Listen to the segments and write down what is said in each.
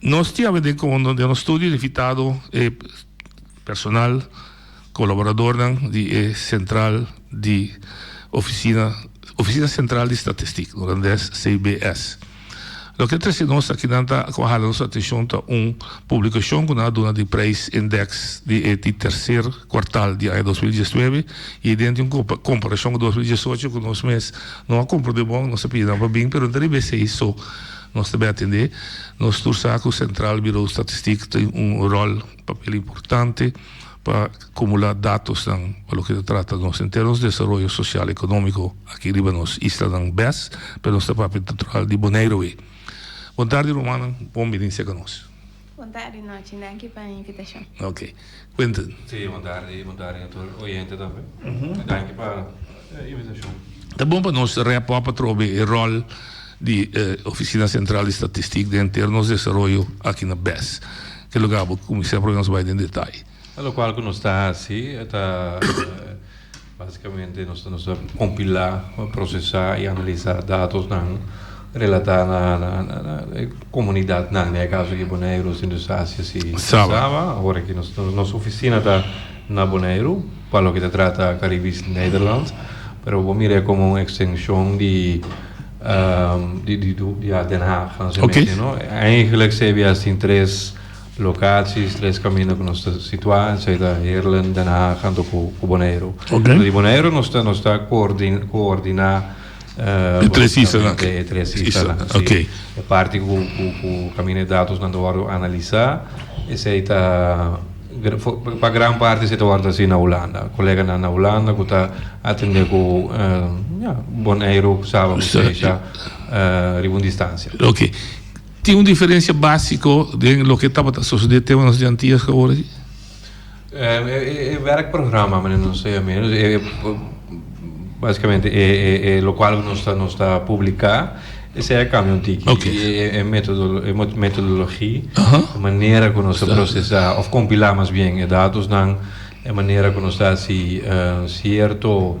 Nos tin abende con den nos studio invitado e personal, colaboradornan di e central di oficina, Oficina Central di Statistiek, Holandes, CBS. Loke trece nos akinan ta, cu a hala nos atencion ta un publicacion cu nan a duna di prijs index di e di tercer cuartal di aña dos mil diesnuebe y e den di un comparacion cu dos mil diesocho cu nos mes no a compro di bon, nos a pidi nan pa bin, pero no ta riba esey, so, Nos ta bin atendé. Nos tur sa ku Sentral Birou Statistik tin un ròl, papel importante pa kumulá datosnan pa loke ta trata nos en términos di desaroyo sosial ekonómiko aki riba nos islanan bes, pero nos ta papia natural di Boneiroe. Bontardi rumannan, bon binistia ka nos. Bon tardi nochi, danki pa invitashon. Ok. Quinten. Sí, bon tardi, bon tardi na tur oyente tambe. I danki pa e invitashon. Ta bon pa nos rep op atrobe e ròl di e Ofisina Sentral di Statistik den henter nos desaroyo aki na bes. Ke lugá bo kuminsá probe nos bai den detai. Lokual ku nos ta hasi e ta basikamente nos ta kompilá, prosesá i analisá datosnan relatá na e komunidatnan, na e kaso aki Boneiru, Sint Eustatius i Saba. Ora ki nos ofisina ta na Boneiru pa loke ta trata Karibes Nederland, pero bo mir'é komo un ekstenshon di di Den Haag, nan se mesha no. Eigenlik CBS tin tres. Locaties, tres camino cu nos ta situa, esey ta Heerlen, Den Haag anto cu Bonaire. Anto di Bonaire nos ta nos ta coordina e tres isla e tres isla si. E parti cu camina e datos nan ta wordo analisa esey ta pa gran parti esey ta wordo hasi na Hulanda. Colega nan na Hulanda cu ta atende cu Bonaire cu Saba cu Seisha riba un distancia. Tin un diferensia básiko den loke tabata sosodé tema nos di Antias ku awor aki? E wèrkprograma manera nos ta yam'é, básikamente e lokual ku nos ta nos ta publiká esei a kambia un tiki. Oke. E metodologi, e manera ku nos ta prosesá òf kompilá mas bien e datosnan, e manera ku nos ta hasi sierto.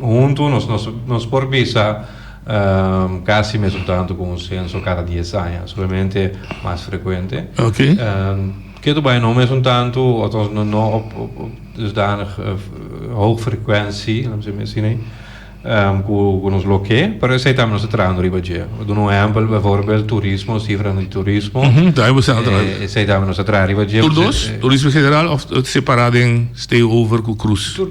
Huntu nos nos por bisa kasi mesun tantu ku un senso kada dies aña, simplemente mas frekuente. Okay. Ketu bai no mesun tantu, althans no no op op op dusdanig hoog frecuentie, laat me zeggen misschien nee, ku ku nos lo ke, pero esei tambe nos ta trahando riba dje. Bo duna un ehempel, bijvoorbeeld turismo, sifra di turismo. Mhm, ta hemos al tra. Esei tambe nos ta traha riba dje. Tur dos, turismo general of separá den stay over ku cruise?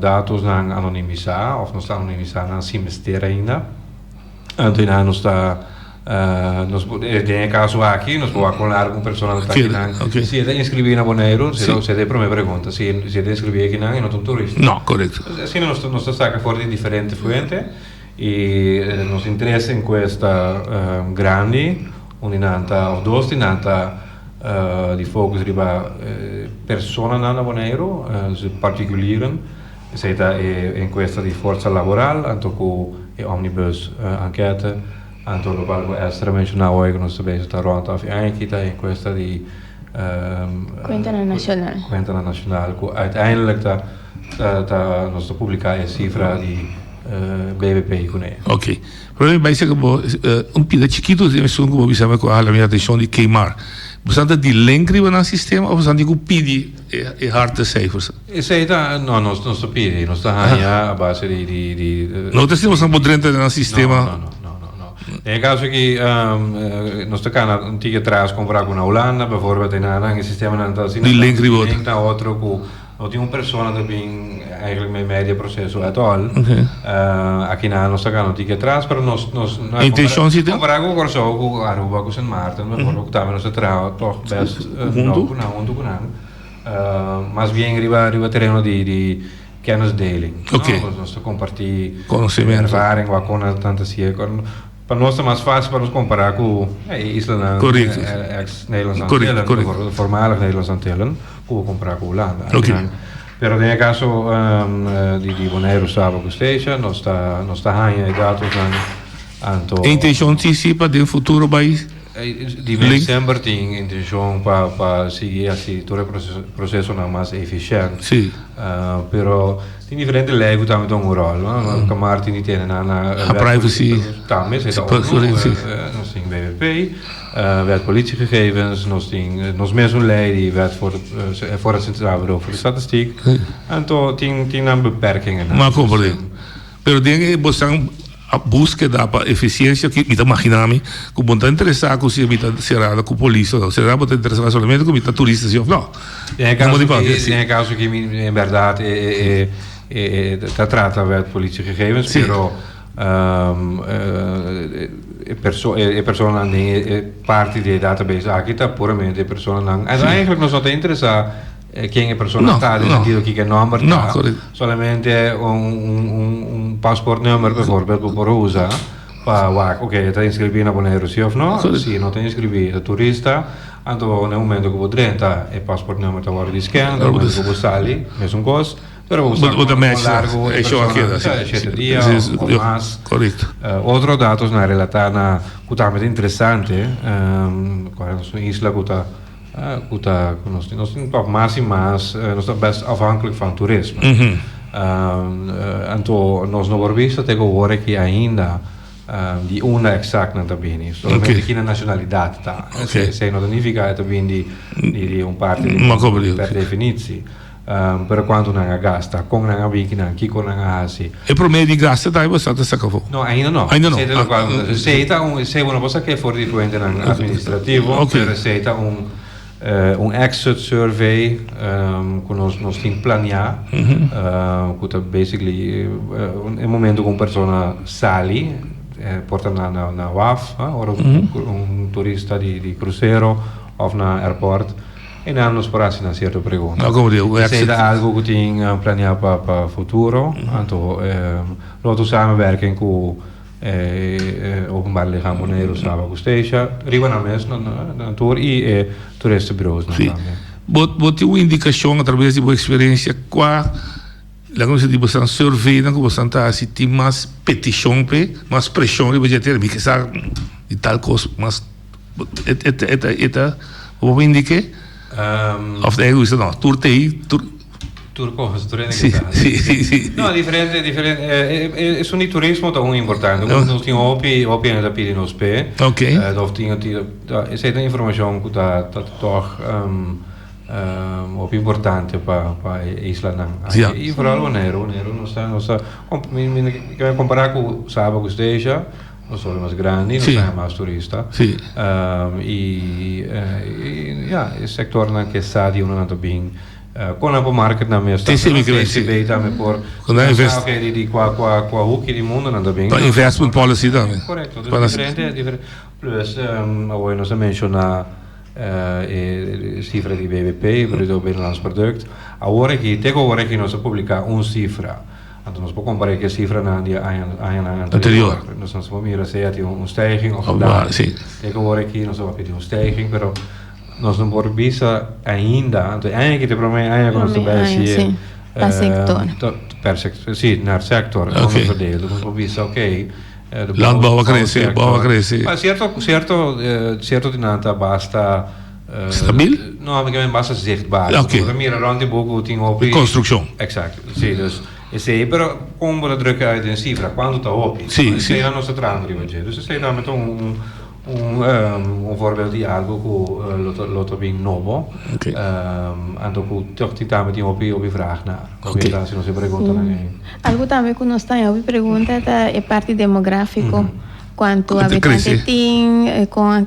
Datosnan anonimisá òf nos ta anonimisá nan sin mester ainda. Anto nan nos ta nos por den e kaso aki nos por wak kon lar ku un persona ta taki nan si e ta inskribí na Boneiru sera sera e promé pregunta si si e ta inskribí aki nan e no ta un turista no korekto asina nos ta saka for di diferente fuente. Y nos tin tres encuesta grandi unda nan ta, of dos di nan ta di focus riba personanan na Boneiru, particulieren. Esey ta e encuesta di forza laboral anto cu e omnibus ankete anto locual cu Esther a menciona awe cu nos ta bezig ta rond. Afe aña aki ta e encuesta di. Kuentenan Nashonal. Kuentenan Nashonal ku uiteindelik ta ta nos ta publiká e sifra di BBP kuné. Oke. Pero mi bai seki bo un pida chikitu den esun ku bo bisa mi ku a hala mi atenshon di Kmar. Bosanan ta di link riba nan sistema of bosanan tin ku pidi? e harte cijfers. Esey ta, no nos nos ta pidi, nos ta haña a base di, di, di, No ta si nos a por drenta den nan sistema. No, no, no, no, no. Den e caso aki, nos ta cana un tiki atras compara cu na Holanda, bijvoorbeeld, e nan, nan e sistemanan ta asina, di link riba otro, di link na otro cu no tin un persona ta bin. Eigenlijk me medio proceso at all. Okay. Uh, akina nos ta gano tiki atrás, pero nos, nos, no hay Intención si tem? Comparado con Curaçao, con Aruba, con Sint Maarten, me acuerdo que también nos trabajo toch best uh, no, con junto con nan. Uh, más bien riba, riba terreno di, di kennisdeling. Okay. No? Nos, nos te compartí. Conocimiento. Ervaring, wat kon na tanta sier, kon. Pa nos ta mas fácil pa nos compará cu e islanan ex Nederlandse Antillen, mejor voormalige Nederlandse Antillen, cu bo compará cu Hulanda. Pero den e caso di Bonaire, Saba cu Statia nos ta haña e datos nan anto. E intencion tin si pa den futuro bai Di mes december tin intencion pa sigui haci tur e procesonan mas eficient, pero tin diferente ley cu ta mete un rol, no? Loke Martin di tene na wet privacy, ta mes, ta ONU, nos tin wpp, wet politiegegevens, nos tin nos mesun ley di wet for for het Centraal Bureau voor de Statistiek, anto tin nan beperkingennan. Pero den e bosnan buskeda pa efisiencia ki mi ta magina mi ku bo ta interesa ku si mi ta serado ku polis o no sera bo ta interesa solamente ku mi ta turista si of no Den e kaso ki den e kaso ki mi en berdad ta trata wet politie gegevens pero e personanan den e parti di e database aki ta puramente e personanan en eigenlijk nos no ta interesa. Ken e persona ta, den sentido kiko e nòmber ta. Solamente un pasportnummer bijvoorbeeld ku por usa pa wak oke e ta inskribí na Boneiru si òf no. Si e no ta inskribí, e ta turista, anto bo na e momento ku bo drenta e pasportnummer ta wòrdu disken, na e momento ku bo sali mesun kos, pero bo sa ku por kon largu e persona ta, si ta shete dia òf mas. Otro datos na relatá na ku tambe ta interesante, kual es un isla ku ta. Cu ta cu nos tin? Nos tin tòg mas i mas, nos ta best afhankelijk van toerisme. Anto nos no por bisa te ku wor aki ainda di unda exact nan ta bini. Solamente ki nan nacionalidad ta. Esei no ta nifica e ta bini di un parti di mundo per definitie. Pero cuanto nan a gasta? Con nan a bin ki nan? Kico nan a haci? E prome di gasta ta ayuda sata saca afo? No, ainda no. Ainda no. Esey ta lo cual ta haci. Esey ta un, esey bo no por saca e for di fuentenan administrativo, pero esey ta un, un exit survey cu nos, nos tin planea, cu ta basically e momento cu un persona sali, por ta na, na, na waf, ora un turista di, di crucero of na airport. E nan nos por hasi nan sierto pregunta. No, como di, un accidente. Esey ta algo cu tin planeá pa, pa futuro, anto e Lotto samenwerking cu e Openbare Lichaam Bonaire Saba cu Stecia, riba nan mes, nan, nan tur, y e toeristenbureausnan Si. tambe. Bo, bo tin un indicacion a traves di bo experiencia cua, laga nos di, bastan surveynan cu bastan ta hasi tin mas peticion p'e, mas presion riba dje tera, mi ke sa di tal cos mas. E ta bo bin di ke? Of ta egoista? No, tur ta ei, tur. Tur cos, tur hende ke ta. Si, si, si. No, diferente, diferente, e esun di turismo ta un importante. Nos, nos tin hopi, hopi hende ta pidi nos pe. Ok. Of tin, tin, ta, esei ta informacion ku ta, ta tog hopi importante pa, pa e islanan. Ya. I foral Boneiru, Boneiru nos ta, nos ta, mi, mi, mi ta compara ku Saba, ku Stasia. Nos tabata mas grandi, nos haña mas turista. Sí. i ya, e sektornan ku e stadionnan ta bin, kon nan por market nan mester. Sí, sí, mi kree. SCB tambe por pensá oke di kua kua kua huki di mundu nan ta bin. Pa investment policy tambe. Korekto. Dus diferente diferente plus awor nos a menshoná e sifra di BBP, Bruto Binnenlands Product. Awor aki, te ku awor aki nos a publiká un sifra. Anto nos por compará cu e cifranan di e añanan anterior. Nos a por mira si e a tin un stijging of un daling. Si. Tin cu wor aki nos a papia di un stijging, pero nos no por bisa ainda, anto e aña aki ta e prome aña cu nos ta bay hasi e. Pa sector. Per sector, si, na sector. Ok. Nos a verdeo, nos por bisa, ok. Landbouw a crece, bouw a crece. Cierto, cierto, cierto di nan ta basta. Stabil? No, ami ken basa zichtbaar. Oké. Porque mira rond die boek hoe ting hopi. Construcción. Exact. Sí, dus esei, pero kon bo ta drukken uit den cifra, cuánto ta hopi. Sí, sí. Esei nan nos ta trahando riba dje. Dus esei tambe ta un, un, un, ehm, un voorbeeld di algo ku eh, lo ta, lo ta bin nobo. Oké. Ehm, anto ku tog tin tambe tin hopi, hopi vraag na. Oké. Hopi etansio nos e pregunta nan ei. Algo tambe ku nos ta hopi pregunta ta e parti demográfico. Cuánto Cuánto habitante crece. tin, eh, con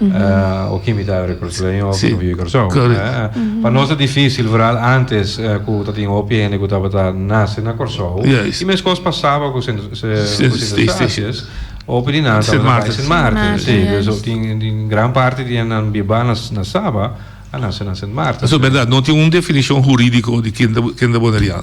Uh, o kimita e Recursoleño o si. Bibi Kòrsou. Correct. Eh, eh. Pa nos ta difícil, vooral antes eh, ku ta tin hopi hende ku tabata nase na Kòrsou. Juist. I meskos pasaba ku Sint, se, Sint- ku Sint Sint- Eustatius, hopi di nan Sint tabata bai Maarten. Sint Maarten, Sint Maarten, si. juist. Beso tin, tin gran parte di nan bibá na, na Saba a nase na Sint Maarten. Eso berdad, no tin un definishon hurídiko di ken ta, ken ta Boneriaan.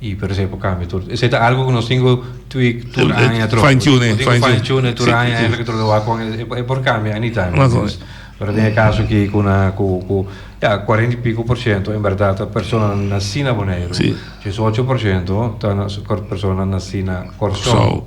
Y pero esey por cambia tur. Esey ta algo cu nos tin cu tweak tur Tul- eh, aña troco. fine tune, Nos tin cu fine fine tune. tune tur Sí, aña sí. eigenlijk troco wak con e, e por cambia anytime. Razón. Dus, pero den e caso aquí cu na, cu, cu, ya, cuarenta y pico por ciento en verdad ta persona naci na Boneiru. Sí. Diesocho por ciento ta na, persona naci na Corsou. Corsou.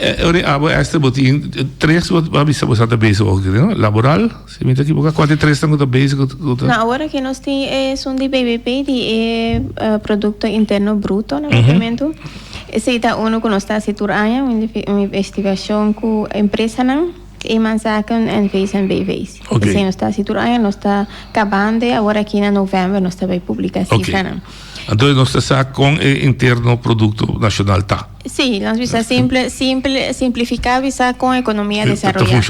Ori abo e ester bo tin tres bo ta bisa bo sa ta bezig oki no? Laboral, si mi ta ekiboka, kua di tresnan ku ta bezig ku ku ta? Na awor aki nos tin e sun di BBP di e produkto interno bruto na papiamentu. Esei ta unu ku nos ta hasi tur aña, un un investigashon ku empresanan, Eemannzaken en VSMBV's. Oke. Esei nos ta hasi tur aña, nos ta kabando awor aki na novèmber nos ta bai publiká e Oke. sifranan. Anto nos ta sa kon e interno produkto nashonal ta. Sí, nos bisa simple, simple, simplifica bisa con economia desaroya.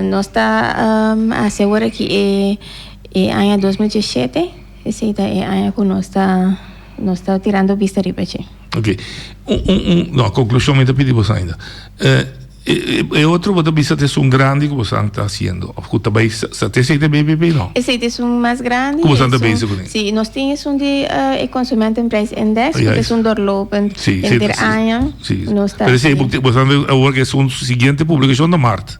Nos ta asegura ki e e aña dos mil diecisiete esey ta e aña cu nos ta nos ta tirando bista riba dje. Ok, un un un no conclusion mi ta pidi boso ainda. E otro bo ta bisa ta esun grandi ku boso ta hasiendo of ku ta bai sa ta esei ta bai bai bai no? Esei ta esun mas grandi. Ku boso ta bezi kuné? Si, nos tin esun di e Konsumentenprijs Indeks ku ta esun doorlopend henter aña. Nos ta. Pero esei boso ta bai awor ku esun siguiente publikashon ta mart.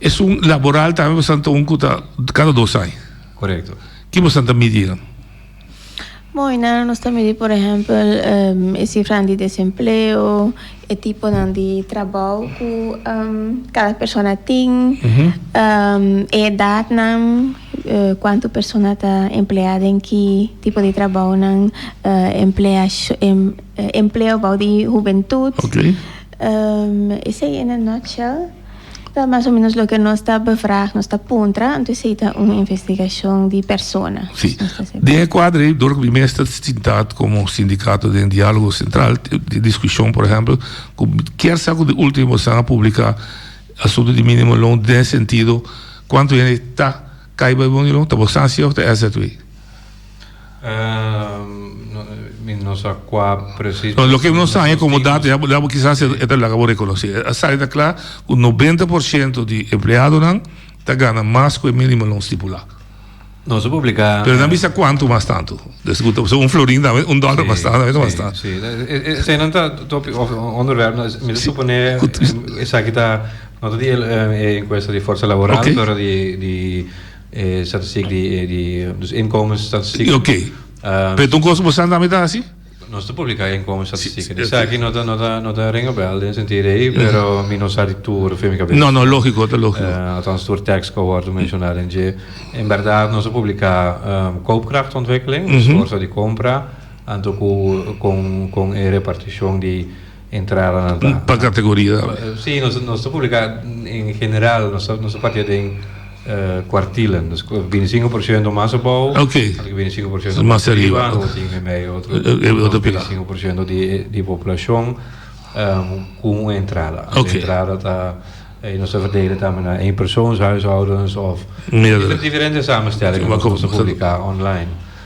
Esun laboral tambe bosan ta un cu ta cada dos ai. Correcto. Ki bosan ta midi nan? Bo Ainara nos ta midi por ehempel e cifranan di desempleo, e tiponan di trabao cu cada persona tin, e edadnan, cuantu persona ta emplea den ki tipo di trabaonan, emplea empleo bou di hubentud. Esey en a nutshell. Ta mas o menos loke nos ta bevraag, nos ta puntra, anto esei ta un investigashon di persona. Si. Den e kuadro ei, dor ku mi mes ta sintad komo sindikato den dialogo sentral, tin diskushon por ehempel, ku kier sa ku di ultimo esnan a publika asuntu di minimo loan den sentido kuantu hende ta kai bai bungalow, ta Boston Sea of ta SZW? Lo que nos sabe como dato ya bo kisas e ta laga bo reconoci a sa ta cla cu noventa por ciento di empleadonan ta gana mas cu e minimo lo stipula pero nan bisa cuanto mas tanto so un florin ta un dollar mas tanto ta mas tanto esey nan ta topic of onderwerp mi ta supone esaki ta no ta di e encuesta di fuerza laboral pero di E statistiek di e di dus inkomens statistiek. Di oké. Pero tu un kos ku bo sa tambe ta hasi? Nos ta publiká e inkomens statistiek. Si, si. Esaki no ta no ta no ta ring a bèl den sentido ei, pero mi no sa di tur afirma mi kabes. No, no, lógiko, ta lógiko. Althans tur tèks ku a wòrdu menshoná den dje. En bèrdat nos a publiká koopkrachtontwikkeling, dus forsa di kompra, anto ku kon kon e repartishon di. entradanan ta. Pa categoria tambe? Sí, nos, nos ta publica en general, nos ta, nos ta patia den cuartilen, dus bini cinco por ciento mas abou, Ok. anto cu bini cinco por ciento Mas mas riba, riba, ok. anto cu tin den medio otro, E- e otro nos bini pilar. cinco por ciento di, di poblacion cu un entrada, Ok. e entrada ta, y nos ta verdelen tambe na eenpersoonshuishoudens of, Meerdere. y ta diferente samenstellingen, Como nos ta publica online.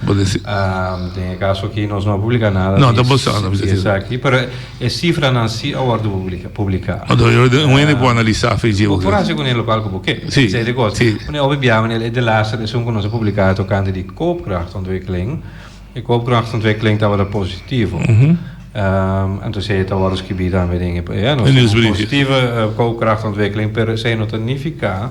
Bo ta si. Den e kaso aki nos no a publiká nada di. No ta bostá nada di esaki, pero e sifranan si a wòrdu publiká. Oto yo den un hende por analisá fechi e kos. Bo por hasi kuné lokal ku bo ke. Si, si. Kuné obe bia manera e delaster esun ku nos a publiká tokante di koopkrachtontwikkeling, e koopkrachtontwikkeling tabata positivo. Anto esei ta wòrdu skibí tambe den e. Nos ta positivo koopkrachtontwikkeling pero esei no ta nifiká.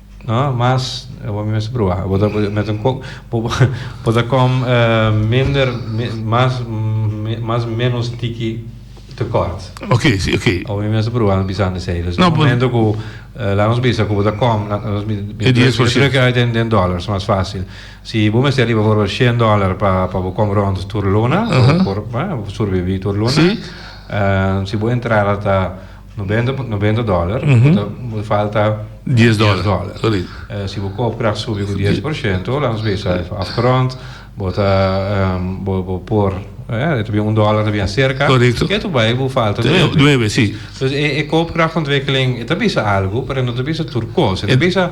No, mas e bo mester proba. Bo ta met un kok, bo, bo ta kom uh, minder, mi, mas, mi, mas menos tiki tekort. Oké, sí, oké. O mi mester proba no bisa de sei. Dus no, momento ku uh, la nos bisa ku bo ta kom, la nos mi, mi, mi, mi druk uit den, den dollars, mas fácil. Si bo mester riba voor 100 dollar pa, pa bo kom rond tur luna, uh -huh. por, uh, surbibi tur luna. Sí. Uh, si bo entrada ta Noventa noventa dollar bo ta bo ta falta Dies dollar. dies dollar. Correct. Eh, si bo koopkrag subi ku 10 porshento lanos besa afgrond bo ta ehm, bo bo por eh, ta bien un dollar ta bien cerca Correcto. e tu bai bo falta Te- nueve nueve, sí. dus e e koopkragtontwikkeling e ta bisa algo pero e no ta bisa tur kos e ta Sí. bisa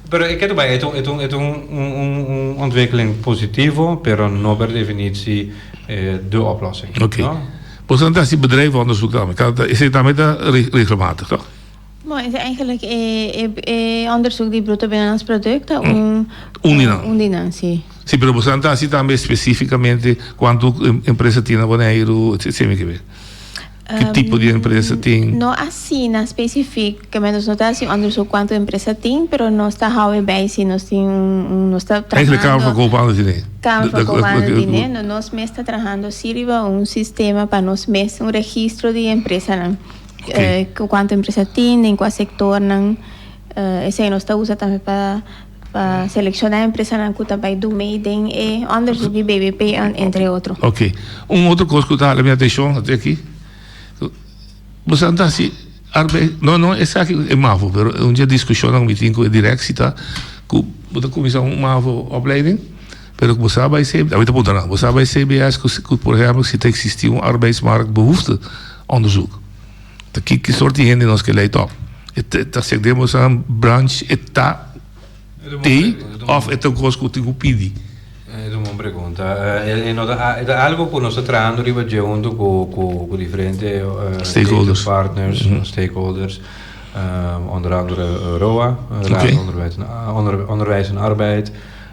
Pero e keda bai, et un et un ontwikkeling positivo, pero no per definitie de oplossing. Ok. Bo sa ta hasi bedrijf onderzoek tambe. Ta ta esei tambe ta regelmatig, toch? Bon, esei eigenlijk e e onderzoek di bruto binnenlands product ta un Un di nan. un di nan, si. Si, pero bo sa ta hasi tambe specificamente cuanto empresa tin na Boneiru, etcetera. Ki tipo di empresa tin? Um, no asina specific, ke nos no ta haci un onderzoek cuanto empresa tin, pero nos ta hou e bay si nos tin un, un, nos ta trahando. Eigenlijk Kamer van Koophandel di Nederland. Kamer van Koophandel di Nederland, nos mes ta trahando si riba un sistema pa nos mes, un registro di empresanan, ke cuanto empresa tin, den cua sectornan, esei nos ta usa tambe pa. Pa selecciona empresanan cu ta bay do mee den e onderzoek di BBP an, entre otro. Ok. Un otro cos cu ta hala mi atencion ta aki. Bo sa ta haci arbeid, no, no esaki e mavo, pero e un dje discusionnan mi tin cu e directie ta cu bo ta cuminsa un mavo opleiding, pero bo sa bay CBS, mi ta puntra nan, bo sa bay CBS cu, por ehempel, si ta existi un arbeidsmarktbehoefteonderzoek? Ta ki ki sort di hende nos ke lei tòp. E ta sek den boso nan branch e ta tei òf e ta kos ku tin ku pidi? Es un bon pregunta. E no ta e ta algu ku nos ta trahando riba dje huntu ku ku diferente Stakeholders. partners, stakeholders, onder andere ROA, Raad van Onderwijs en Arbeid.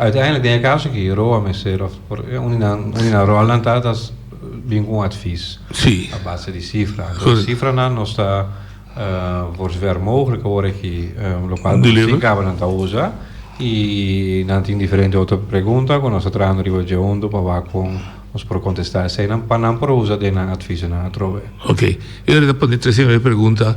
Uiteindelijk den e caso aki Roa mester of un di nan un di nan rolnan ta ta bin cu un advies Sí. a base di cifra. Entonces Correct. cifranan nos ta por zover mogelijk ora aki lo cual Deliver. Boso Tin Cabanan ta usa y nan tin diferente otro pregunta cu nos ta trahando riba dje hunto pa wak con nos por contesta eseinan pa nan por usa den nan adviesnan atrobe. Ok, e ora ta pone tres e primer pregunta,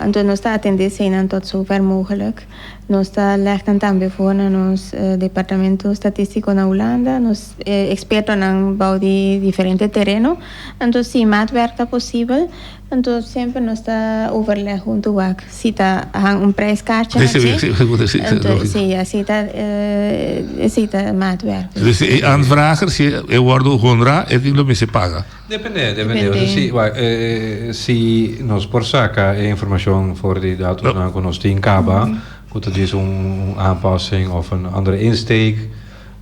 Anto nos ta atendé eseinan tot sover mogelik. Nos ta legnan tambe for na nos Departamento Statístiko na Hulanda nos ekspertonan bou di diferente tereno. Anto si maatwerk ta posibel, anto semper nos ta overleg huntu wak si ta han un prijs kartje na dje. Anto si así ta esei ta maatwerk. Anto si e aanvrager si e wòrdu honrá e tin lo mester paga. Depende, depende. Depende. Si, bai, e, e, si nos por saca e informacion voor die datumnan cu nos tin caba, cu ta djis un, un aanpassing of een andere insteek,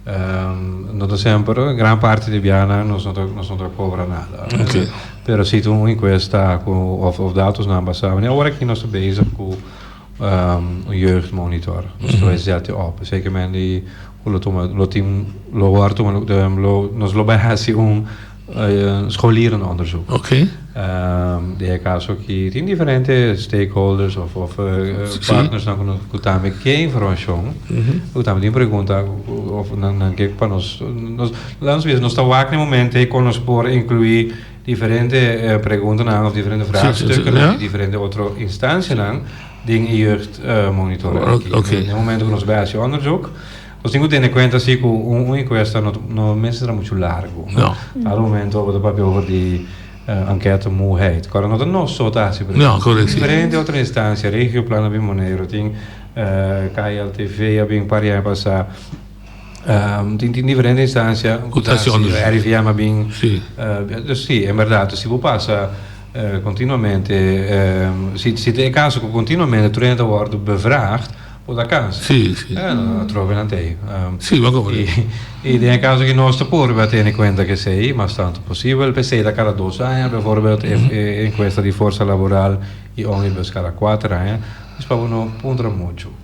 ehm, no ta semper, en gran parte di biahanan nos no ta, nos no ta cobra nada. Oké. Pero si ta un encuesta cu, of, of datumnan basa, wanneer awor aki nos ta bezig cu, ehm, un jeugdmonitor, nos ta bai zet die op. Zeker men die. Cu lo tuma, lo tin, lo hoor tuma, lo tem, lo, nos lo bai haci un eh, scholierende onderzoek. Ok. Ehm, di e caso ki tin diferente stakeholders of, of eh, eh, Sí. partners nan cu nos, cu tambe ke informacion, cu tambe tin pregunta, cu- of nan, nan ke pa nos, nos, laat ons wezen, nos ta wak na e momento ei con nos por inclui diferente eh, preguntanan of diferente vraagstukken, Ja. di diferente otro instancianan, Den e jeugd monitoring aki. Oké. Den e momento ku nos bai hasi onderzoek, nos tin ku tene kuenta si ku un un enkuesta no no mester tra muchu largu. No. Aru momento bo ta papia over di ankèt muheid. Kòrda no ta nos so ta hasi, por esemple. No, korek si. Diferente otro instansia, Regioplan a bin Boneiru, tin KLTV a bin pariaña pasá. Tin tin diferente instansia ku ta si RIVM a bin dus si en berdad si bo pasa kontinuamente si ta e kaso ku kontinuamente tur hende ta wòrdu bevraagd por ta kansa atrobe nan ta ei i den e kaso ki nos ta por a tene kuenta kesei mas tantu posibel p'esei ta kara dos aña bevorbeld e enkuesta di forsa laboral i omnibus kara kuater aña dus pa bo no puntra muchu.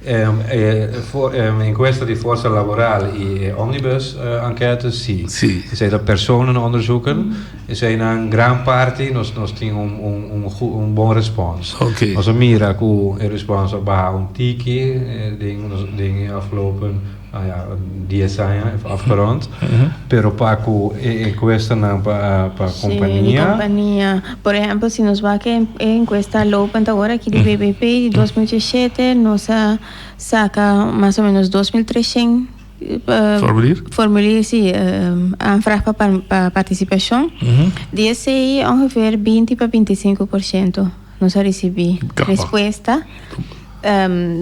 E encuesta di forsa laboral y e omnibus enquete si. Esey ta personanan onderzoeken. Eseynan gran parti nos nos tin un bon respons. Nos a mira cu e respons a baha un tiki den den e afgelopen. Dies aña e afgerond, pero pa ku e enkuestanan pa kompania. Por ehèmpel, si nos wak e enkuesta lopend awor aki di BBP di dos mil diesisiete, nos a saka mas o menos dos mil treshent formulier, si, aanvraag pa partisipashon. Di esei ongeveer binti pa binti i sinku por shento. Nos a ricibi respuesta.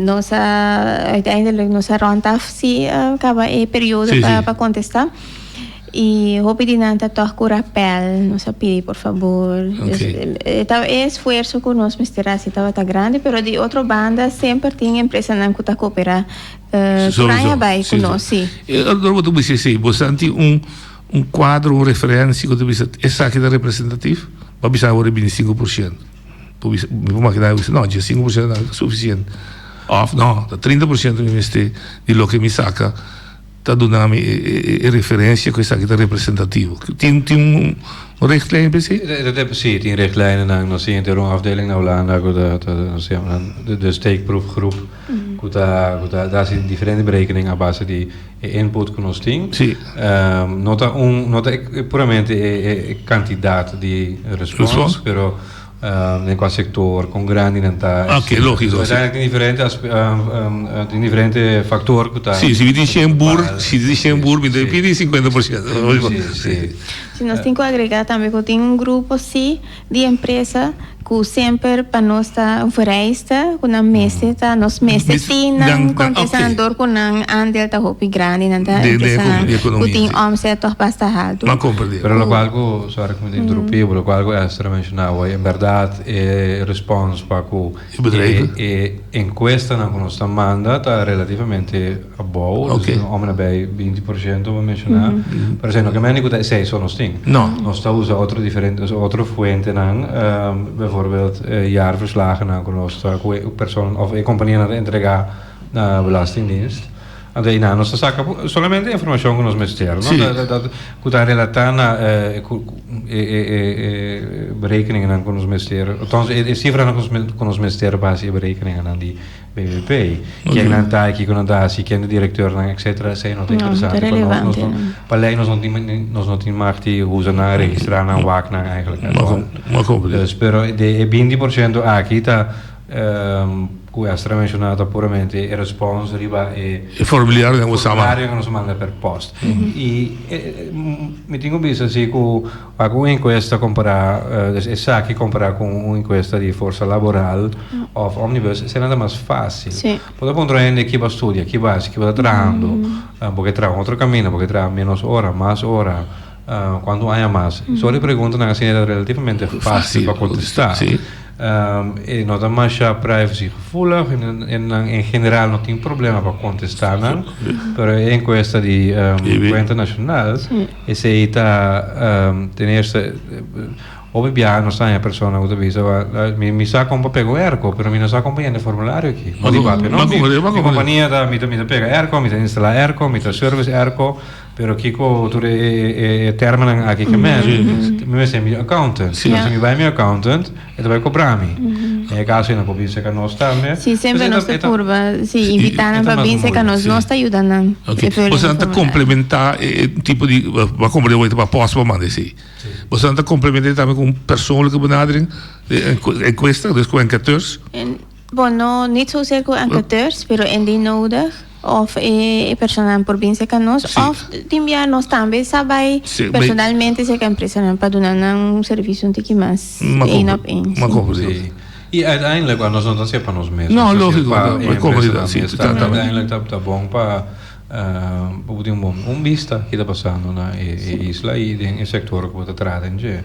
Nos a uiteindelijk nos a rond af si a caba e periodo si, si. pa contesta. Y hopi di nan ta toch cu rapel. Nos a pidi por fabor. Okay. Ta e esfuerzo cu nos mester haci tabata grandi, pero di otro banda semper tin empresanan cu ta coopera cu raña bay cu nos. Si, si. Ey otro bo ta bisa esey. Bosan tin un. Un kuadro, un referensia ku ta bisa esaki ta representativ, pa bisa awor e bini sinku por shent. Por bisa, mi por makina mi bisa, no, dje sinku por shent ta sufisiente. Òf, no, ta trinta por shent mi mester di loke mi saka ta duna mi e referensia ku esaki ta representativo. Tin, tin un richtlijn pa esei? Si, tin richtlijnennan. Nos siguiente rond afdeling nan Hulanda ku ta, ta, nos yamanan de steekproefgroep. ku ta ku ta ta hasi diferente berekening a base di e input ku nos tin. Sí. Ehm, no ta un no ta e- e- puramente e, e, e kantidat di respons, Respons. pero ehm, den kua sektor, kon grandinan ta, Ah, oké, etcetera. lógiko, sí. Uiteindelijk tin diferente aspe- ehm, ehm, eh, tin diferente faktor ku ta Sí, si mi tin ku ta shen bur, bepal. si tin shen bur, mi ta Sí. pidi 50%. Sí, sí. Si nos tin ku agrega tambe ku tin un grupo sí. di empresa cu semper pa nos ta un vereista cu nan mester ta, nos mester tin nan contesnan door cu nan aandeel ta hopi grandi, nan ta empresanan cu tin omzet toch basta haltu. Pero lo cu algo, sorry cu mi ta interrumpibo, lo cu algo Esther a mencionabo, en berdad e response pa cu. E bedrijven? E enkuestanan ku nos ta manda ta relativamente abou. Oke. Dus òf nabei binti por shento bo menshoná. Pero esei no ke mende ku ta esei so nos tin. No. Nos ta usa otro diferente, nos otro fuentenan, beivoorbeeld e jaarverslagennan ku nos ta, ku e persoannan òf e kompanianan ta entregá na Belastingdienst. Anto ei nan nos ta saka solamente e informashon ku nos mester, no? Ta ku ta relatá na e berekeninganan ku nos mester, althans e sifranan ku nos mester base e berekeninganan di BBP. Ken nan ta, kiko nan ta hasi, ken e direktornan, etsetera, esei no ta interesante pa nos. Pa lei nos no tin nos no tin magt di huza nan a registrá nan wak nan, eigenlijk. Pero den e binti por shento aki ta. Ku Estra a menshoná ta puramente e respons riba e. E formuliario ku nos a manda. Formulario ku nos a manda per post. I mi tin ku bisa si ku wak un enkuesta kompará des esaki kompará ku un enkuesta di forsa laboral òf omnibus esei nan ta mas fásil. Si. Bo ta puntra un hende kiba a studia, kiba a hasi, kiba ta trahando, bo ke traha un otro kaminda, bo ke traha ménos ora, mas ora. Uh, cuanto aña mas? Mm. So, de preguntanan así era relativamente fácil para contestar. Sí. Um, e no da más ya privacy gevoelig en, en, en general no tiene problema para contestar, ¿no? pero en encuesta de um, cuenta nacional, ese está, um, ten eerste, Obi bia no sa ya persona uta bisa wa mi mi sa kompa pego erko pero mi no sa kompa yende formulario ki. Modi papi no. Mi kompania da mi da mi da pega erko, mi da instala erko, mi da service erko. Pero kiko tur e, e, e, e termennan aki ke men? Mi mester mi accountant. Si Yeah. mi bai mi accountant, e ta bai cobra mi. En e caso ena por bin seca nos tambe. Sí, Pues siempre e nos ta- te e ta- purba, sí, Sí, invitá nan esta pa más bin seca moeilijk, nos, sí. nos ta ayuda nan. Ok, E problema bosan ta formulario. complementa e e tipo di ba como de pa post pa mande si. Bosan ta complementa tambe con persoonlijke benadering e encuesta, dus con enquêteurs. En- Bon, no, nit zozeer cu enqueteurs, pero indien nodig, of e personanan por bin seca nos, Sí. of tin bia nos tambe sa bay Sí, bay- personalmente seca empresanan pa duna nan un servicio un tiki mas Ma één compre- op één. ma sí. compre- Sí. Y uiteindelijk, want nos no ta hacer pa nos mes. No, nos ta hacer lógico, pa no, e pa empresa comunidad, también. sí, Está- totalmente. Uiteindelijk ta, ta bon pa, eh, pa bo tin un bon, un bista ki ta pasando na e, e isla y den e sector cu bo ta traha den dje.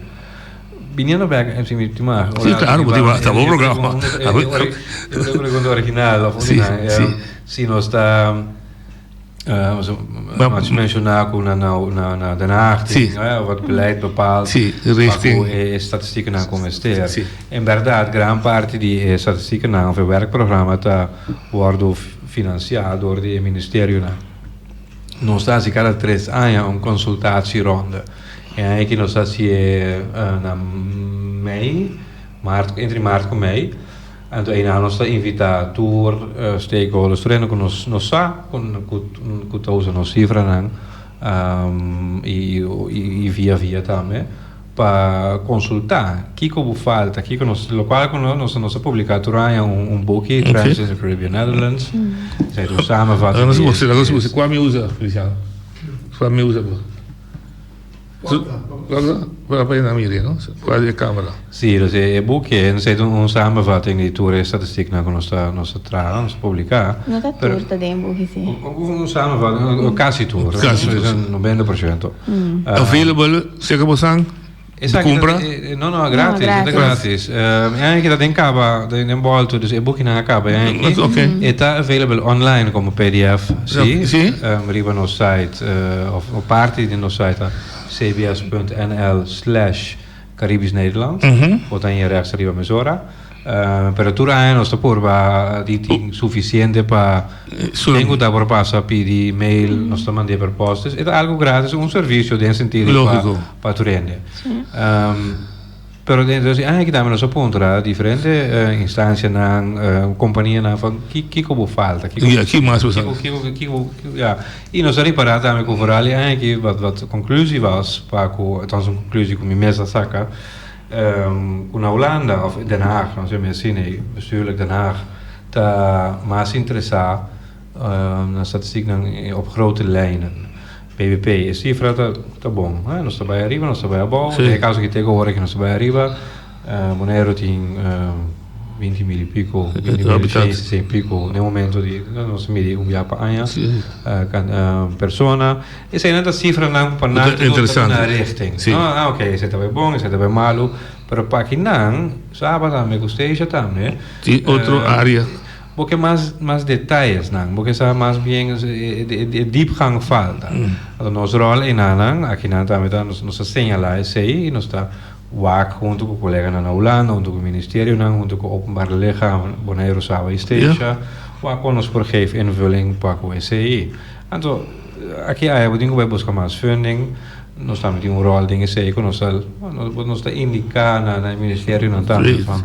Viniendo back en su última. Sí, claro, porque va, estaba programa. Una pregunta original, of sí, una, sí. Um, si no está. Uh, so, mas mencionado con na, na, na, na Den Haag, sí. uh, of het beleid bepaalt, sí, richting. Eh, statistieken aan komen stellen. Sí. En verdad, gran parte die eh, statistieken aan, of het werkprogramma, ta worden financiado door die ministerio. Na. Nos está así cada tres años een consultatieronde. E aña aki nos a hasié na mei, maart, entre maart ku mei. Anto eina nos ta invitá tur stakeholders, tur hende ku nos sa ku ta usa nos sifranan i via via tambe, pa konsultá kiko bo falta, kiko nos lokual ku nos ta publiká tur aña un buki, Trends in the Caribbean Netherlands, esei ta un samenvatting di e. Alas nos usa, kua mi usa, Feliciano? Kua mi usa bo? Si, nos e buki e nos ta hita un samenvatting di tur e statistiknan ku nos ta nos ta traha, nos ta publiká. No ta tur ta den e buki si. Un samenvatting, kasi tur, nos ta bisa nobenta por shento. Available, seka bo san? Di cumpra? No, no, a gratis. No, a gratis. E ta gratis. Um, e aki ta den capa, den, den bolto, dus e boekje na a capa. E aki, Mas oké. e ta available online como pdf, si? Ja, si. Um, riba nos site, uh, of, of parti di nos site, ta cbs.nl slash Caribisch Nederland. Bo ta hier rechts riba mesora. Pero tur aña nos ta por ba di tin sufisiente pa den ku ta por pasa pidi mail nos ta mand'é per postes e ta algu gratis un servisio den sentido pa pa tur hende pero dentro di aña aki tambe nos a puntra diferente instancianan kompanianan fo kiko bo falta kiko ya i nos a ripara tambe ku foral di aña aki wat konklusi was pa ku ta un konklusi ku mi mes a saka. Ku na Hulanda òf Den Haag, nos bai mester sina ei, bestuurlijk Den Haag ta mas interesá na statistiknan op grote lijnen, BBP. E sifra ta bon, nos ta bai ariba, nos ta bai abou, den e kaso ki ta e gohora ki nos ta bai ariba, Boneiru tin binti mil i piko, binti mil i shen sesenta i piko den e momento di nos ta miri un biaha pa aña, persona. Eseinan ta sifranan ku pa nan Inter- tokun ta interesante. na richting. Sí. No, ah, ok, esei ta bay bon, esei ta bay malu, pero pa akinan, Saba tambe ku Stacia tambe, Tin otro eh, área. bo ke mas mas detallesnan, bo ke sa mas bien e, e, e, e diepgang falta. Anto nos rol enanan, akinan tambe ta, nos, nos ta señalá esei i nos ta wak huntu ku koleganan na Hulanda, huntu ku ministerionan, huntu ku openbare lichamen, Boneiru, Saba i Stacia, wak kon nos por geef invulling pa ku esei. Anto. Aki aña bo tin ku bai buska mas funding. Nos tambe tin un ròl den esei ku nos ta nos ta indiká na e ministerionan tambe van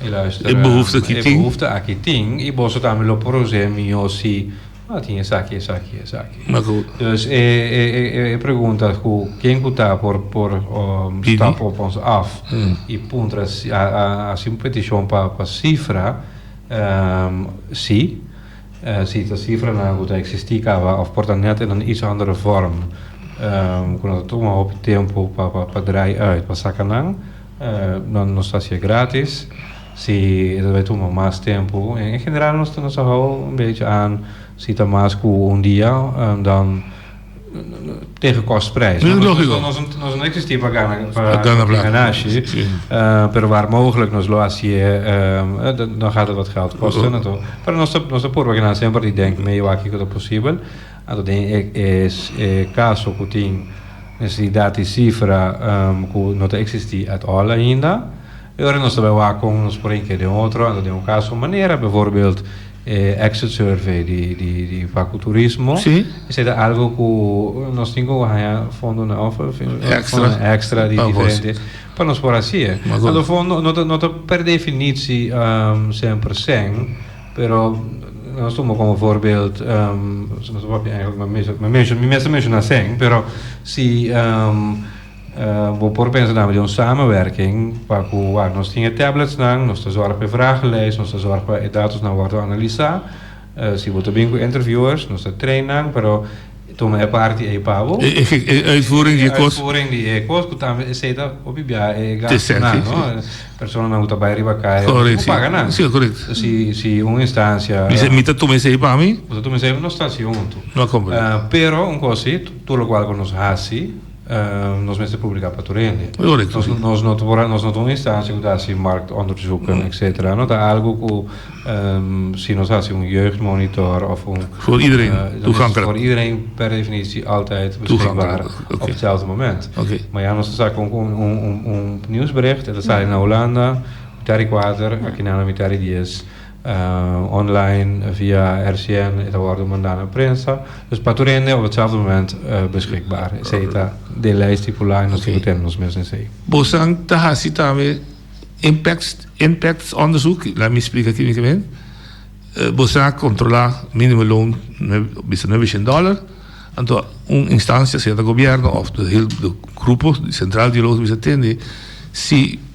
e luister e behoefte aki tin i boso tambe lo por hos'é mihó si a tin esaki esaki esaki. Dus e pregunta ku ken ku ta por por stap op ons af i puntra hasi un petishon pa sifra si. Si ta sifranan ku ta eksistí kaba òf por ta nèt en un ish àndere vòrm ku no ta tuma hopi tempu pa drai ùit, pa saka nan, nan nos ta hasié grátis. Si e ta bai tuma mas tempu, en general nos ta hou un bèsh'e an, si ta mas ku un dia, dan. tegen kostprijs. No, nos, nos, nos, nos no existí pa gana, pa gana plata. Sí. Uh, pero waar mogelijk nos lo hacía, uh, dan gaat het wat geld kosten. Uh -huh. Pero nos, nos probeer genan sempre die denken, me yo aki dat possibel. Ato den e, es, e caso ku tin necesidad i cifra um, ku no te existí at all ainda. E ora nos ta bai wak kon nos por hinka den otro, anto den un kaso manera bevoorbeeld e exit survey di Facu Turismo, esei ta algo ku nos tin ku haña fondonan òf fondonan ekstra di diferente pa nos por hasi e. Anto fondo no ta no ta per definitsi sèn per sèn, pero la nos tuma komo voorbeeld nos papia mi mester menshoná sèn pero si. Bo por pensa tambe den un samenwerking pa ku wak nos tin e tabletsnan, nos ta zòrg pa e vragelijst, nos ta zòrg pa e datosnan wòrdu analisá. Si bo ta bin ku interviewers, nos ta train nan, pero tuma e parti ei pa bo. E uitvoering di e kos. E uitvoering di e kos, ku tambe esei ta hopi biaha e gastunan, no? Personanan ku ta bai riba kai, bo tin ku paga nan. Si, korekt. Si, si un instansia. Mi se, mi ta tuma esei pa mi. Bo ta tuma esei pa nos ta hasi huntu. No a kompren. Pero un kos si, tur lokual ku nos hasi. Nos mester publica pa tur hende. Correcto, si. Nos no ta por a, nos no ta un instantie cu ta haci marktonderzoeken, etcetera. No ta algo cu si nos haci un jeugdmonitor of un. Voor iedereen toegankelijk. Voor iedereen per definitie altijd beschikbaar op hetzelfde moment. Oké. Maar ja, nos ta sa cu un nieuwsbericht e ta sali na Hulanda, mitad di kuater, aki nan a mitad di dies. online via RCN e ta wòrdu mandá na prensa, dus pa tur hende op etzelfde moment beskikbaar. Esei ta den lei stipulá i nos tin ku tene nos mes na esei. Bosan ta hasi tambe impactsonderzoek, laat mi splika kimikamente. Bosan a kontrolá minimumloon bisa nuebecien dòler, anto un instancia, sea ta gobièrnu òf di grupo sentral di loon ku bisa tende, si.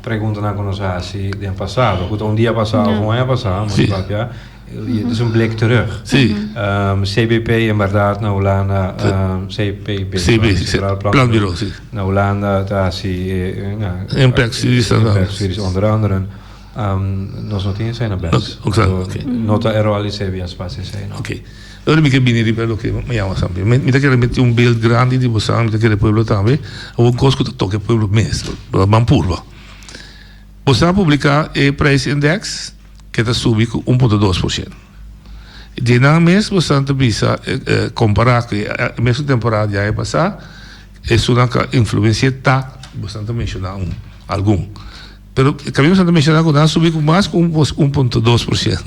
Preguntanan ku nos a hasi den pasado, ku ta un dia pasá òf un aña pasá, mas i papia dit es un blik terug. CBP en bèrdat na Hulanda, CPB, Centraal Planbureau, na Hulanda ta hasi e inspeksies onder andere. Nos no tin esei na bèrs. No ta e ròl di CBS pa hasi esei. Ora mi ke bini riba e loke mi yama san bien. Mi ta kere mete un beeld grandi di bosan, mi ta kere pueblo tambe, awo un kos ku ta toke pueblo mes, lo ban purba. Bosa publika e prijs index ke ta subi ku un punto dos por shent. Dje nan mes bosa ta bisa kompara ku e mesun temporada di aña pasa, esunnan ka influensia ta, bosa ta menshona un, algun. Pero, e kaminda bosa ta menshona ku nan subi ku mas ku un punto dos por shent.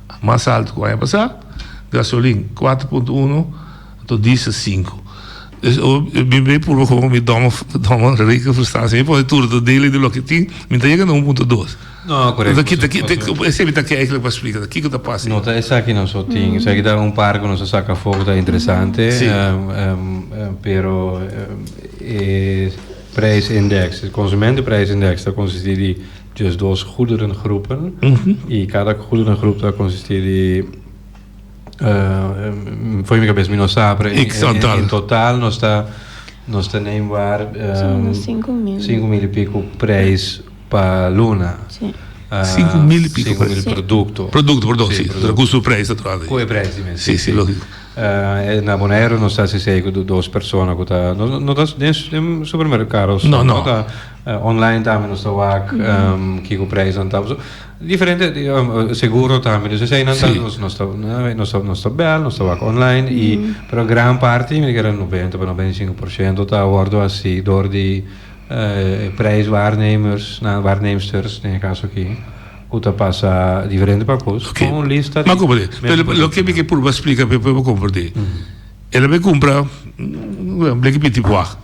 mas alto ku aña pasá, gasolin kuater punto uno to diesel sinku. Des oor mi bin bai purba ku mi dòmmen dòmmen reken frustrasie mi pone tur do dele di loke tin mi ta yega na un punto dos. No, korek. Enton kita kita Pasobra. esei mi ta kere eiseki pa splika ta kiko ta pasa No, ta esaki nos so tin. Esaki ta un par ku nos a saka afó ku ta interesante. Sí. Em, em, em, pero em, e prijsindex, e konsumentenprijsindex ta konsistí di. Dje dos goederengroepen i kada goederengroep ta konsistí di for mi kabes mi no sa pero en total nos ta nos tenei bar sinku mil i piko preis pa luna sinku mil produkto ku su preis ta trada ahi na bonaero nos ta hasi esei ku dos persona ku ta no ta den supermerkado no ta. Online tambe nos ta wak kiko prijsnan ta pasobra diferente seguro tambe dus eseinan ta nos ta nos ta nos ta bel nos ta wak online y pero gran parti mi ta keda noventa pa noventa y sinku por shento ta a wordo hasi door di e prijs waarnemersnan waarnemsters den e kaso aki ku ta pasa diferente pakos con un lista di men ku ta Loke mi ke purba splika p'e bo kompordé e lo mi kumpra bleki piti wak.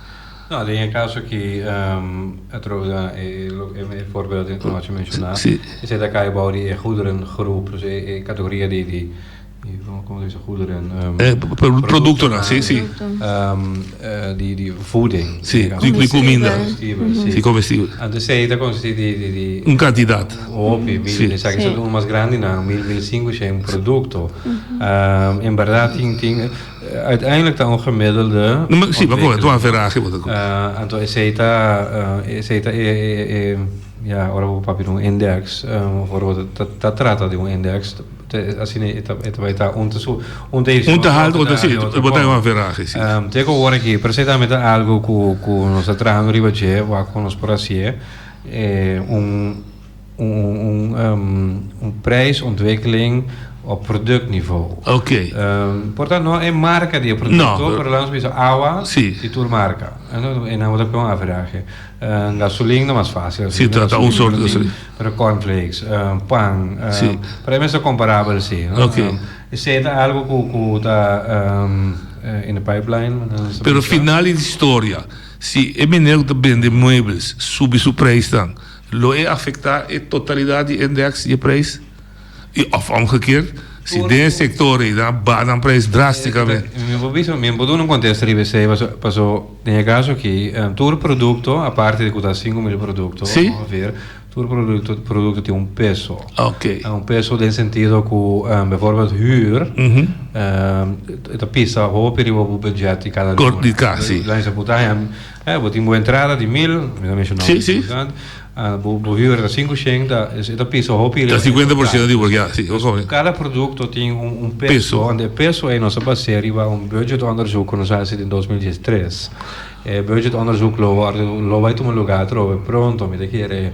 No, den e kaso aki atrobe den e voorbeeld di anochi menshoná, esei ta kai bou di e goederengroep, dus e categoria di, di, como se dice, goederen, productonan, si, si, di, di voeding, si, di cuminda, di comestibles, anto esei ta consisti di, di, di, un cantidad, un hopi, mil, den esaki ta duna mas grandinan, mil, mil i sinku, esei un producto, en berdad tin, tin. Uiteindelijk ta un gemiddelde ontwikkeling. Anto esey ta e, ora bo papia di un index, of ora bo ta trata di un index, asina e ta bai ta. Un ta subi, un ta hasi mas hopi den e otro bon. Te ku ora aki, pero esey tambe ta algu ku nos ta trahando riba dje, wak ku nos por hasié un. Un prijsontwikkeling op productniveau. Oké. Por ta no e marka di e producto, pero laat ons bisa awa i tur marka. E nan bo ta kon average. Gasolin ta mas fácil así. Ta ta un sort gasolin. Pero cornflakes, pan, por ahí mester comparabel así. Oké. Esei ta algo ku ta in the pipeline. Pero final di historia, si e meneer ku ta bende muebles subi su prijsnan. Lo e afecta e totalidad di index di e prijs? Y of omge kier, si den e sector ey nan baha nan prijs drasticamente? Mi por bisa, mi no por duna un contesta riba esey, paso, paso den e caso aki, tur producto, aparte di cu ta cinco mil producto, ongeveer, tur producto, producto tin un peso. Un peso den sentido cu, bijvoorbeeld huur, ta pisa hopi riba bo budget di cada loer. Di casa, si. Laatste putahe, Eh, bo tin bo entrada di mil, mi ta menshoná un Si, si. poco antes, ah, bo, bo huur ta cinco sheng, ta, es, e ta pisa un hopi riba Ta e cincuenta por ciento di porcentaje. bolsa, ya, si, bo kohe. Cada producto tin un, un peso, Peso. and e peso ei nos a bas'é riba un budgetonderzoek ku nos a hasi den dos mil dies tres. E budgetonderzoek lo wòrdu, lo bai tuma lugá atrobe pronto, mi ta kere.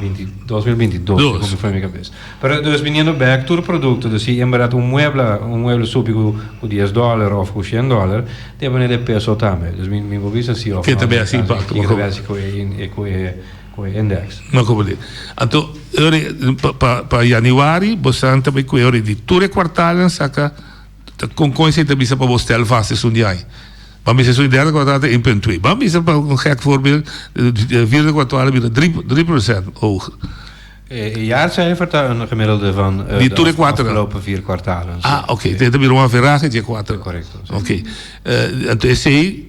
Binti dos mil binti dos Dos. Kiko mi fami kabes. Pero dos biniendo bek tur produkto dus si en berdad un muebla un mueble subi ku ku dies dòler òf ku shen dòler tin e manera di e peso tambe. Dus mi mi por bisa si òf Ke no ta besi Amerikano impakto, kiko ta makobo. besi ku e in e ku e ku e index. Makobo di. Anto ora pa pa pa yaniwari bosanan ta bai ku e ora di tur e kwartalnan saka Con con esey ta bisa pa bo stel vast esun di ai? Bo a mester esun di derde kwartaal ta een punt twee. Bo a mester pa un gek voorbeel di vierde kwartaal a bira drie procent hoger. E jaarcijfer ta een gemiddelde van de afgelopen vier kwartalen. Ah, oké. Te ta bira un averaje dje kuater. Correcto. Oké. Anto esey.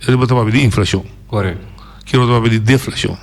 E riba ta papia di inflashon. Correct. Ki riba ta papia di deflashon.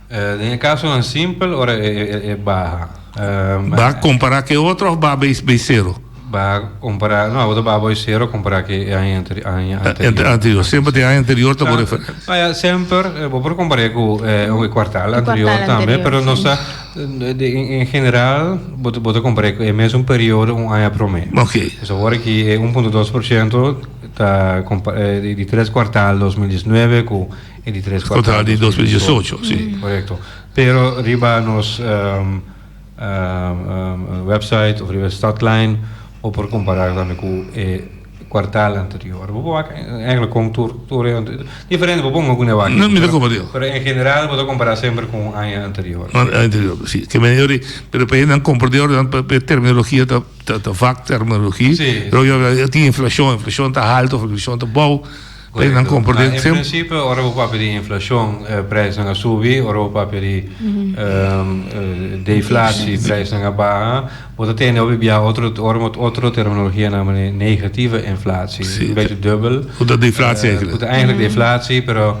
Den e kasonan simpel, ora e baha. Baha kompará ku e otro òf baha bei sero? Baha kompará, no, abo ta baha bei sero kompará ku e aña anterior. Semper den e aña anterior ta bor. No ya, semper bo por kompar'é ku e kuartal anterior tambe, pero nos ta en general bo ta kompar'é ku e mesun periodo un aña promé. Oke. Ora ki e un punto dos por shento. Ta compara e di tres cuartal dos mil diesnuebe cu e di tres cuartal di dos mil diesocho, si. Correcto. Pero riba nos website of riba e Stadlijn bo por compara tambe cu e cuartal anterior. Bo por wak eigenlijk con tur tur e diferente bo por ponga cune wak. No, mi ta compara yo. Pero en general bo ta compara semper cu aña anterior. Aña anterior, si. Ke manera yo di, pero pa e nan comprador nan pa e terminologia ta. Ta ta vak terminologi. Sí. Lo yo habla tin inflacion, inflacion ta halto of inflacion ta bou. Pres nan kompor den. Ah, en principe ora bo papia di inflacion, eh, prijsnan a subi, ora bo papia di ehm, eh, deflatie, prijsnan a baha. Bo ta tende hopi bia otro, ora mo otro terminologia namen di negative inflatie. Sí. Un bechi dubbel. Ku ta deflatie Eh, ku eigenlijk. ta eigenlijk deflatie, pero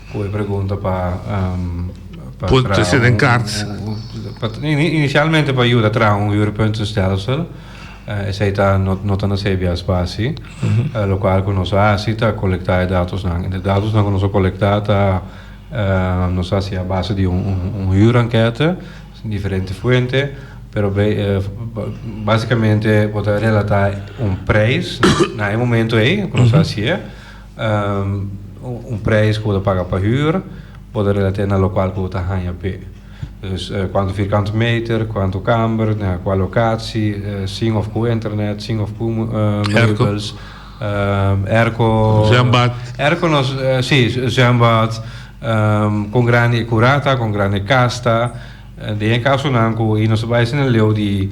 Cu e pregunta pa traha. President Kartz. Inicialmente pa yuda traha un huurpuntenstelsel, esey ta no ta na CBA spatie. Locual cu nos a haci ta colecta e datosnan. E datosnan cu nos a colecta ta nos a haci a base di un huurenkete, diferente fuente, pero basicamente bo ta relata un prijs na e momento ey cu nos a haci'e. Un prijs ku bo ta paga pa hür bo ta relate'é na lokual ku bo ta haña p'é. Dus, kuantu firkante meter, kuantu kamber, na kual lokatsi, sin òf ku internet, sin òf ku meubels, èrko, èrko nos, sí, zwèmbad, kon grandi e kura ta, kon grandi e kas ta. Den e kasonan ku nos ta bai esei na leu di.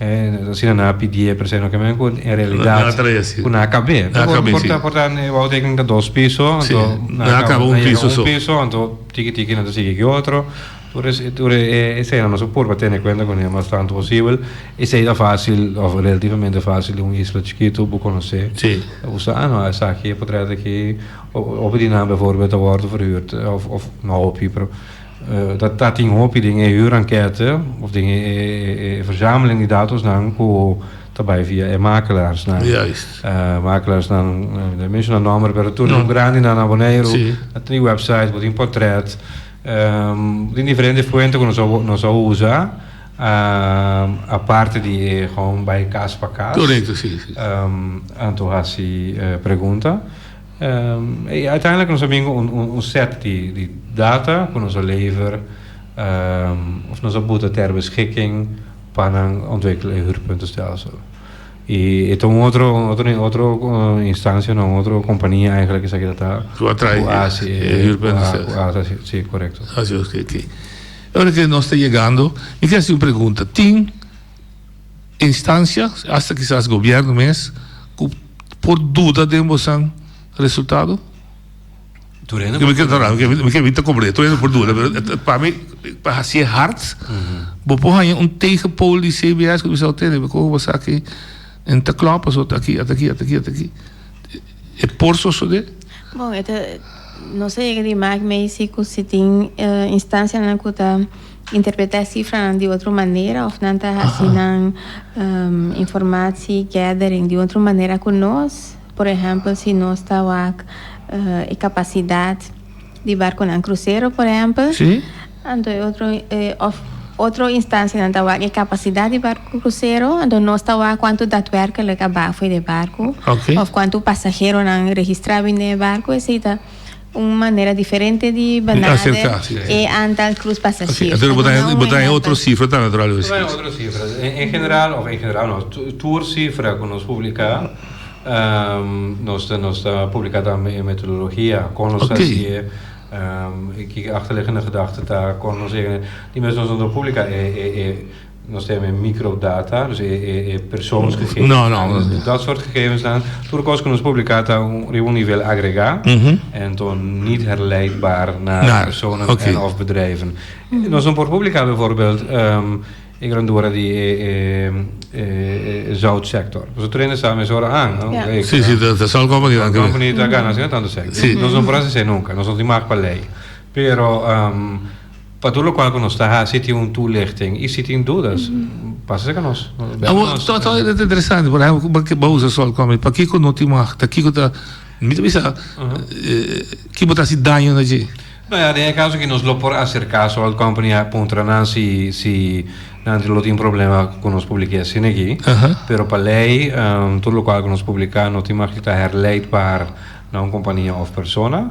E asina nan a pidié pero esei no kende ku en realidat ku nan a kab'é. Por por ta e wou teken ta dos piso anto nan a kaba un piso anto tiki tiki nan ta sigui ki otro tur tur esei nan nos por pa tene kuenta ku nan mas tantu posibel esei ta fasil of relativamente fasil den un isla chikitu bo konosé usa a no esaki e potret aki hopi di nan beforbel ta wòrdu verhurd of no hopi pero. Ta ta tin hopi den e huurenkete of den e e verzameling di datosnan ku ta bai via e makelarsnan. Juist. Makelarsnan, no a menshona nòmber, pero tur den grandinan na Boneiru a tin e wèpsait, bo tin pòtrèt. Bo tin diferente fuente ku nos a nos a usa aparte di e hòm bai kas pa kas. Korekto, si, si. Anto hasi pregunta. Y uiteindelijk nos a bingo un set di data cu nos a lever of nos a buta ter beschikking pa nan ontwikkelen e huurpuntenstelsel. Y e ta un otro, un otro instancia, un otro compania eigenlijk esaki dat a. Cu a traai e huurpuntenstelsel. Cu a haci, si, correcto. Oké, oké. Ora cu nos ta yegando, mi quier haci un pregunta. Tin. Instancia, hasta kisas gobierno mes, cu por duda den bosan resultado? Turhendo por duda. No, no, no, mi ke bini comprende. Turhendo por duda. Pero pa mi, pa hasié hard, bo por haña un tegenpool di CBS cu mi sa tende. Mi kohe bo sa ki en ta klopt paso ta aki, ta aki, ta aki, ta aki. E por sosode? Bon, e ta, no sé yega di maak mei si cu si tin instancianan cu ta. Interpretá e sifranan di otro manera òf nan ta hasi nan informatie gathering di otro manera ku nos. Por ehèmpel si nos ta wak e kapasidat di barkunan krusero, por ehèmpel. Sí. Anto e otro òf otro instansianan ta wak e kapasidat di barku krusero, anto nos ta wak kuantu datwèrkelijk a bafui di e barku. Oké. Òf kuantu pasaheronan registrá bindo den e barku, etcetera. Un manera diferente di benader e antal krus pasasjero. Entonces bo ta hende, bo ta hende otro sifra ta natural. Bo ta hende otro sifra. En general, of en general no, tur sifra ku nos publiká, nos ta, nos ta publiká ta e metodologia, kon nos hasié, kiko achterliggende gedagte ta, kon nos e, di mes nos no ta publiká e, e, e. Nos tem e microdata, dus e, e, e persoonsgegevens. No, no, no. Dat soort gegevens dan. Tur cos que nos publica ta un, riba un nivel agregá. Mhm. En to niet herleidbaar naar Naar, personen oké. en of bedrijven. Nos no por publica bijvoorbeeld ehm e grandura di e, e, e, e zoutsector. Nos trainen samen is ora aan. no? Ja. E, Sí, sí, de, de Salt Company dan Een creo. company ta gana asina tanto cent. Sí. Nos no por hacer así nunca. Nos no tin maak pa lei. Pero ehm Pa tur lokual ku nos ta hasi tin un tulichting i si tin dudas pasa segun nos. Awor ta interesante por ehempel ku bo ta usa sol kòmit pakiko no tin mah ta kiko ta mi ta bisa ke bo ta hasi daño na dje. No ya den e kaso aki nos lo por aserka sol company a puntra nan si si nan lo tin problema ku nos publike asin aki pero pa lei tur lokual ku nos publika no tin mah di ta herleid baar na un kompania òf persona.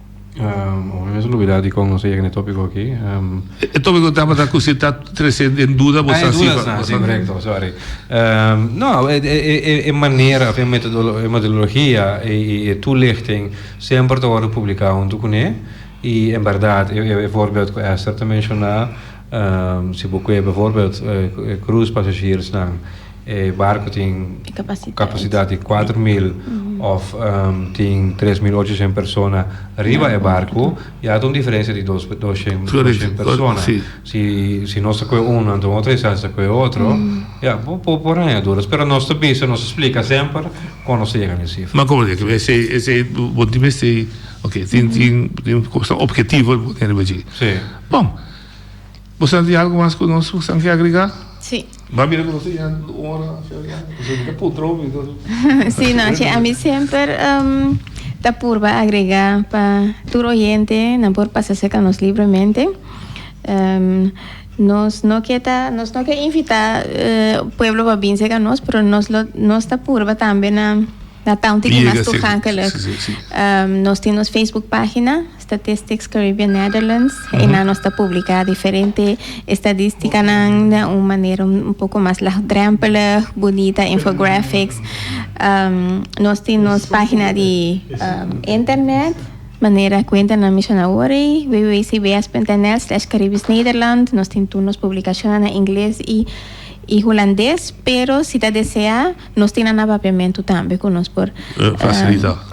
Omi mester lubidá dikon nos a yega na e tópiko akí. E tópiko tabata ku si ta tresé den duda bo sa siba. Ah, e dudas, si, korekto, sòri. No, e manera òf e metodologia i e tulichting semper ta wòrdu publiká huntu kuné. I en bèrdat e vòrbèld ku Ester ta menshoná, si bo kue bèvòrbèld krùs pasasjersnan. E barco tin capacidad di cuatro mil of tin tres mil ochociento persona riba e barco y a ta un diferencia di dosciento persona. Si nos ta coe uno anto otro esas ta coe otro ya bo bo raña duras pero nos ta bisa nos ta splica semper con nos ta yega na e cifra. Ma como ta yega esei bo tin mester tin tin tin cosa objetivo bo pone riba dje. Bon. Bo sa di algu mas ku nos bo san ke agregá? Sí. Bo a mira ku nos ta yega un ora shariat, nos a yega putro hopi entonces. Sí, no, che ami semper ta purba agregá pa tur oyente nan por pasa serka nos libremente. Nos no ke ta, nos no ke invitá pueblo pa bin serka nos, pero nos lo, nos ta purba tambe na na taunti di mas togakelijk. Nos tin nos Facebook página. Statistics Caribbean Netherlands, einan nos ta publica diferente estadisticanan den un manera un poco mas laagdrempelig, bunita infographics. Nos tin nos pagina di internet, manera cu Enter nan menciona awor ei, www.cbs.nl/caribisnederland. Nos tin tur nos publicacionnan na ingles y hulandes, pero si ta desea. Nos tin nan a papiamentu tambe ku nos por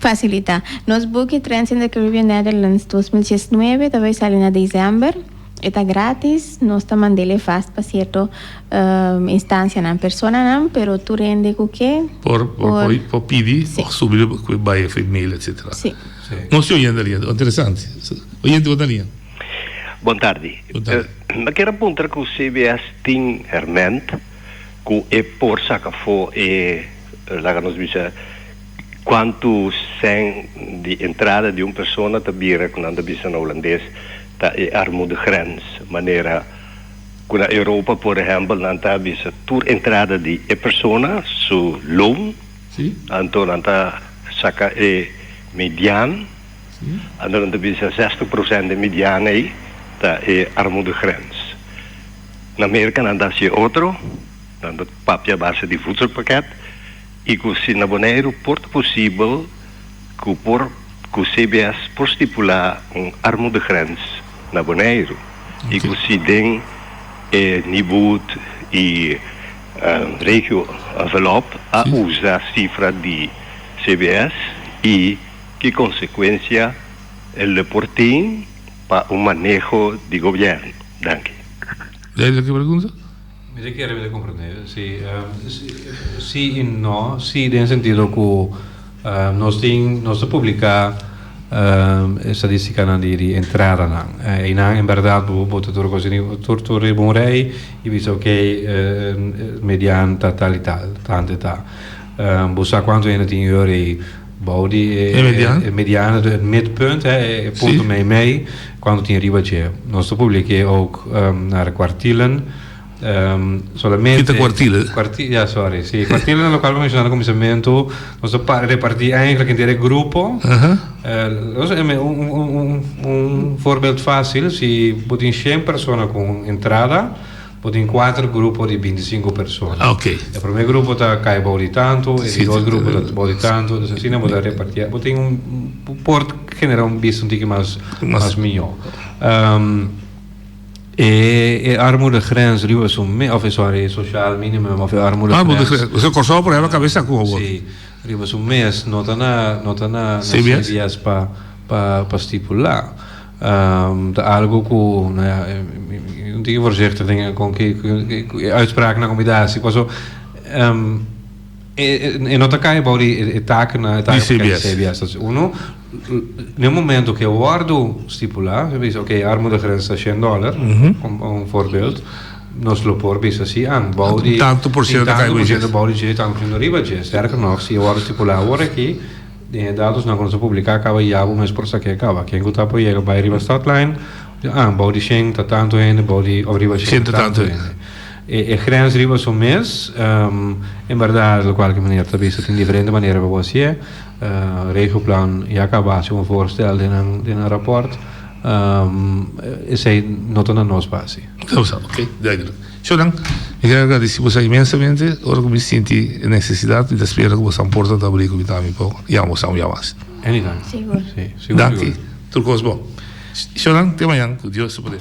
fasilitá. Nos buki Trends in the Caribbean Netherlands dos mil diesnove ta bai sali na desèmber. E ta grátis. Nos ta mand'é lei fast pa sierto instansianan, personanan, pero tur hende ku ke por por pidi òf subi lo ku e bai e mail etsetera. Sí. Nos tin un hende alia. Interesante. Oyente bo ta linea. Bon tardi. Bon tardi. Mi a kere puntra ku CBS tin hèrmènt. Ku e por saka afó e, laga nos bisa, kuantu sèn di entrada di un persona ta bira ku nan ta bisa na Hulandes, ta e armoedegrens. Manera ku na Europa, por ehèmpel, nan ta bisa tur entrada di e persona su loon, anto nan ta saka e mediaan, anto nan ta bisa zestig prosènt di e mediaan ei ta e armoedegrens. Na Merka nan ta haci otro, nan ta papia base di voedselpakket y cu si na Boneiru por ta posibel cu por cu CBS por stipula un armoedegrens na Boneiru y cu si den e niboed y regio envelop a usa cifra di CBS y ki consecuencia el por tin. pa un maneho di gobièrnu? Danki. Duidelijk e pregunta? Mi ta kere mira komprondé. Sí, sí i no. Sí den e sentido ku nos tin, nos ta publiká e stadístikanan di entradanan. Einan en bèrdat bo bo ta tur kos, tur tur riba un rei i bisa okay median ta tal i tal, tantu i ta. Bo sa kuantu hende tin yu rei. Bou di e, e, mediano. e mediano, het midpunt, hè, e e punto sí. mei mei, quando tin riba je. Nos te publiqué ook um, naar kwartielen. Um, solamente... Kita kwartielen? Kwarti, ja, sorry. Sí, kwartielen na local mencionado al comienzamento. Nos te pa, repartí eigenlijk entero e grupo. Uh -huh. Uh, nos, un, un, un, un, un voorbeeld fácil, si bo tin 100 persona con entrada, Bo tin kuater grupo di binti sinku persona. E promé grupo ta kai bou di tantu, e di dos grupo ta bou di tantu, entonces asina bo ta repartié. Bo tin un, bo por generá un bista un tiki mas, mas mihó. E, e armudegrens riba su me, òf e sòri, e sosial minimum òf e armudegrens. Kusé Kòrsou por hèba kabes akú awor? Sí, riba su mes no ta na, no ta na, na CBS pa, pa, pa stipulá. Ta algu ku no ya mi tin ke voorzichtig den kon ke e uitspraaknan ku mi da hasi paso e no ta kai abou di e taknan e taken di cbs ta si uno den e momento ke wòrdu stipula mi bisa ok e armoedegrens ta shen dòler un voorbeeld nos lo por bisa si an bou di tin tantu por shento abou di dje tantu por shento riba dje sterker nog si e wòrdu stipula awor aki. Den e datosnan ku nos a publiká kaba ya bo mes por sa ke kaba. Ken ku ta por yega bai riba stadlijn, ah, bou di shen ta tantu hende, bou di òf riba shen ta tantu hende. E grens riba su mes, en bèrdat lokualke manera ta bisa tin diferente manera pa bo hasié. Regioplan ya a kaba hasi un voorstel den nan rapòrt, esei no ta na nos pa hasi. Oké, duidelijk. Ciudadano, mi quiere agradeci bosa inmensamente ora cu mi sinti e necesidad mi ta spera cu bosa porta ta abri cu mi ta ami poco yama bosa un yamashi. Anytime. Danki. Tur cos bon. Ciudadano, te mañan cu Dios ta poder.